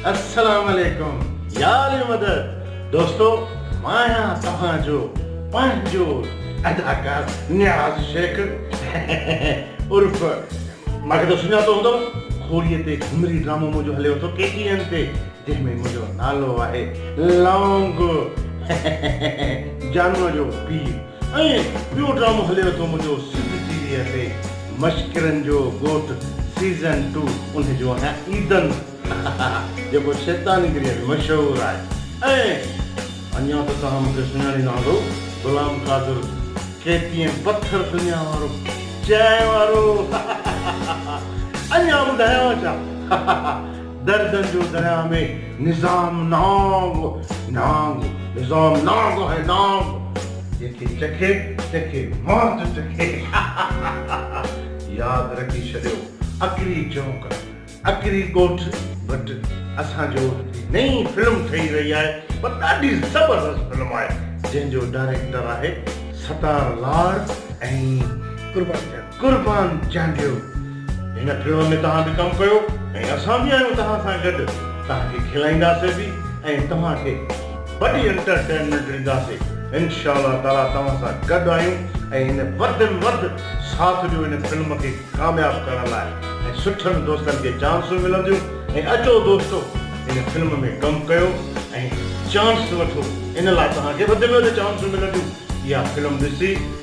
السلام عليڪم يا علي مدد دوستو مان آهيان توهان جو پنهنجو اداڪار نياز شيخ عرف مان کي ته سڃاتو هوندو کوريء تي گهمري ڊرامو منهنجو هليو ٿو ڪي ٽي اين تي جنهن ۾ منهنجو نالو آهي لونگ جانوء جو پيء ۽ ٻيو ڊرامو هليو ٿو منهنجو سنڌ ٽي وي تي مشڪرن جو ڳوٺ سيزن ٽو انهي جو آهيان عيدن جيڪو شيطاني گريء ۾ مشهور آهي ۽ اڃا ته توهان مونکي سڃاڻي نه هوندؤ غلام قادر ڪي پي ايم پٿر دنيا وارو چانهه وارو اڃا ٻڌايانو ڇا دردن جو درياء ۾ نظام نانگ نانگ نظام نانگ آهي نانگ جنهن کي چکي تنهن کي موت چکي ياد رکي ڇڏيو اکري چونڪ اکري ڳوٺ ڀٽ اسان جو نئين فلم ٺهي رهي آهي پر ڏاڍي زبردست فلم آهي جنهن جو ڊائريڪٽر آهي ستار لاڙ ۽ قربان جان قربان چانڊيو هن فلم ۾ توهان به ڪم ڪيو ۽ اسان به آهيون توهان سان گڏ توهان کي کلائينداسي به ۽ توهان کي وڏي انٽرٽينمينٽ ڏينداسي انشاء الله تعالي توهان سان گڏ آهيون ۽ هن وڌ ۾ وڌ ساٿ ڏيو هن فلم کي ڪامياب ڪرڻ لاء ۽ سٺن دوستن کي چانسون ملنديون ۽ اچو دوستو هن فلم ۾ ڪم ڪيو ۽ چانس وٺو ان لاء توهان کي وڌ ۾ وڌ چانسون ملنديون اها فلم ڏسي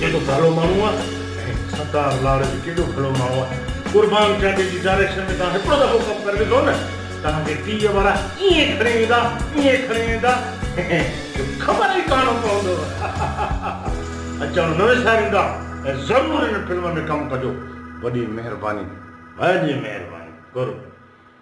ڪيڏو ڀلو ماڻهو آ ۽ ستار لاڙ به ڪيڏو ڀلو ماڻهو آ قربان چاچي جي ڊائريڪشن ۾ توهان هڪڙو دفعو ڪم ڪري ڏسو نه توهان کي ٽي وي وارا ائين کڻي ويندا ائين کڻي ويندا جو خبر ئي ڪانه پوندو اچڻ نه وساريندا ۽ ضرور ان فلم ۾ ڪم ڪجو وڏي مهرباني وڏي مهرباني قرب.